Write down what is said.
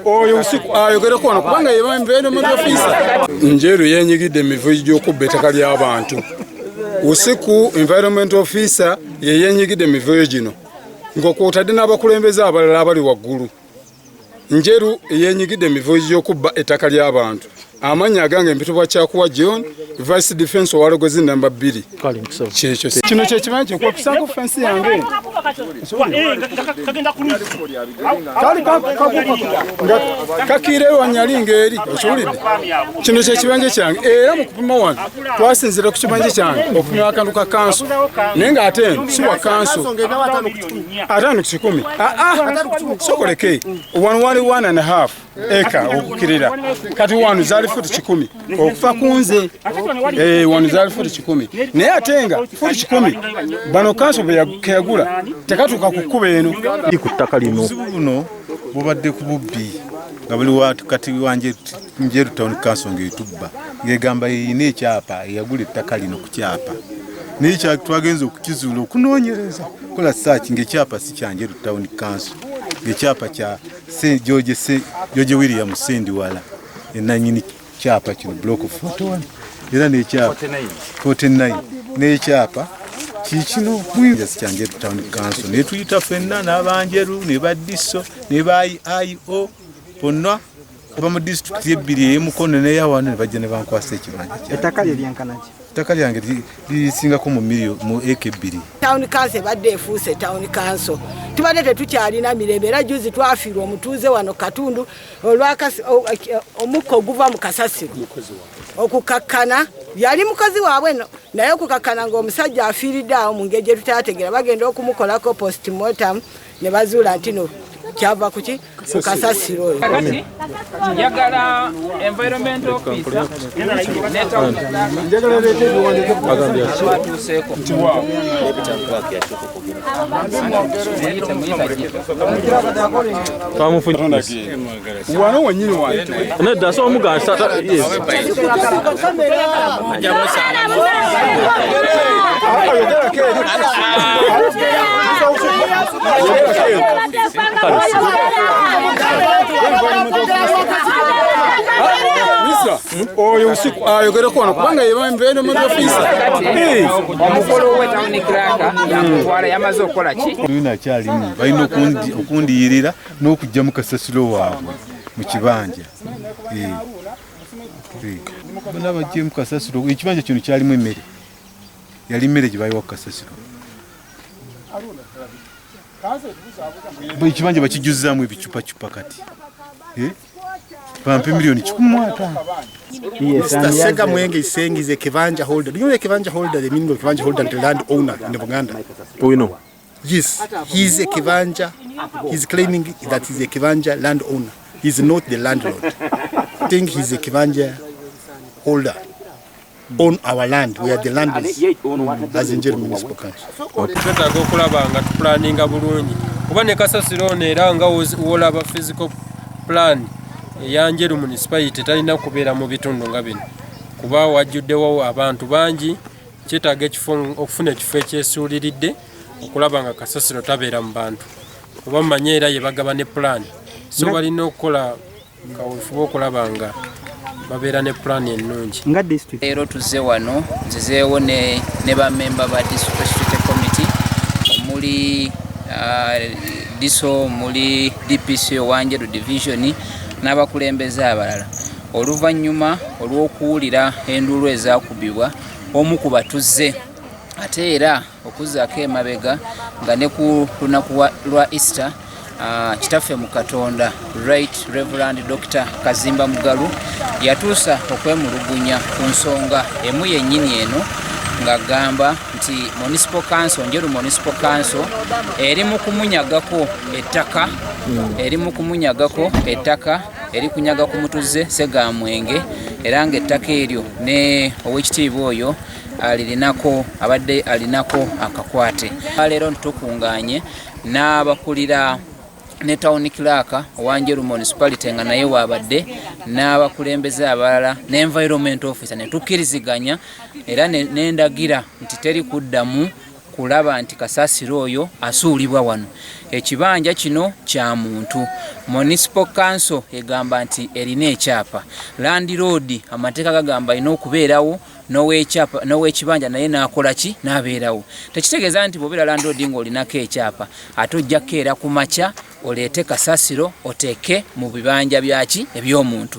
oyo usiku ayogereko ah, wano kubanga yebambeeno mu ofisa njeru yenyigidde emivuyo gy'okubba ettaka ly'abantu usiku environment officer yeyenyigidde emivuyo gino ng'okwotadde n'abakulembeze abalala abali waggulu Njeru eyenyigidde emivuyo gy'okubba ettaka ly'abantu amannya agange mpitibwa kyakuwa john vice defense owalogozi namba bbiri kyekyo kino kyekimanyi kyekwapisako fensi yange kakiire wanyali ngaeri okiwulidde kino kyekibanja kyange era mukupima wano twasinzira ku kibanja kyange okupima akantu ka kanso naye nga ate siwa kanso atano kikumi sokoleke wano wali one and half eka okukirira kati wano zali futi kikumi okufa kunze eh, wano zali futi kikumi naye ate nga futi kikumi bano kanso bwekeyagula tekatuuka ku kkuba eno ku ttaka lino bubadde ku bubbi nga buli kati wanje Njeru Town Council ng'etubba ng'egamba yeyina ekyapa eyagula ettaka lino ku kyapa naye twagenza okukizuula okunoonyereza kola saaki ng'ekyapa si kya Njeru Town Council ng'ekyapa kya George William Sendiwala enanyini kyapa kino block 41 era n'ekyapa 49 n'ekyapa kikino kwinjasi kya Njeru Town Council naye tuyita fenna n'abanjeru ne badiso ne ba IO bonna kuba mu disitulikiti ebbiri eyemukono neyawano nebajja nebankwasa ekibanja ettaka lye lyenkanaki ettaka lyange lisingako mu miliyo mu eka ebbiri tawuni kanso ebadde efuuse tawuni kanso tubadde tetukyalina mirembe era juzi twafiirwa omutuuze wano katundu omukka oguva mu kasasiro okukakkana yali mukozi waabwe no naye okukakkana ngaomusajja afiiridde awo mu ngeri gye tutaategera bagenda okumukolako postmortem ne bazuula ntino kyava kuki kukasasiro oyo kati njagala environment officer netawatuuseeko wano wenyini wanedda so omugansa oyo usiku ayogere kona kubanga yebambeeno mu ofisa omukolo owe tawuni kiraka nakutwala yamaze okukola ki nakyalimu balina okundiyirira n'okuggyamu kasasiro waabwe mu kibanja eh. bona bajjemu kasasiro ekibanja kino kyalimu emmere yali mmere gye bayiwa ku kasasiro ekibanja bakijuzaamu ebicupacupa kati eh? bampe milioni kikumi mwata Mr. Sega Mwenge is saying he's a Kivanja holder. Do you know a Kivanja holder? The meaning of Kivanja holder and the land owner in Buganda. Do you know? Yes, he is a Kivanja. He's claiming that he's a Kivanja landowner. He's not the landlord. I think he's a Kivanja holder on our land. We are the landlords mm. as in Njeri Municipal Council. Twetaaga okulaba nga tupulaninga bulungi kuba ne kasasiro ono era nga wolaba physical plan eya Njeru municipality talina kubeera mu bitundu nga bino kuba wajjuddewo abantu bangi kyetaaga ekifo okufuna ekifo ekyesuuliridde okulaba nga kasasiro tabeera mu bantu oba mumanye era ye bagaba ne pulaani so balina okukola kawefube okulaba nga babeera ne pulaani ennungi nga district leero tuzze wano nzizeewo ne, ne bamemba ba district committee omuli uh, diso omuli dpc owanjeru division n'abakulembeze abalala oluvannyuma olw'okuwulira enduulu ezakubibwa omu ku batuze ate era okuzaako emabega nga ne ku lunaku lwa easter Ah, kitaffe mu katonda right reverand dr kazimba mugalu yatuusa okwemulugunya ku nsonga emu yennyini eno ng'agamba nti municipal council njeru municipal council eri mu kumunyagako ettaka hmm. eri mu kumunyagako ettaka eri kunyaga ku mutuze segamwenge era nga ettaka eryo ne owekitiibwa oyo alirinako abadde alinako akakwate leero ntitukunganye n'abakulira ne town clerk owanjeru municipality nga naye wabadde n'abakulembeze abalala ne environment officer ne tukkiriziganya era nendagira nti teri kuddamu kulaba nti kasasiro oyo asuulibwa wano ekibanja kino kya muntu municipal council egamba nti erina ekyapa landiroodi amateeka gagamba alina okubeerawo n'owekibanja naye n'akola ki n'abeerawo tekitegeeza nti bwobeera landiroodi ng'olinako ekyapa ate ojja kukeera ku makya oleete kasasiro oteeke mu bibanja byaki eby'omuntu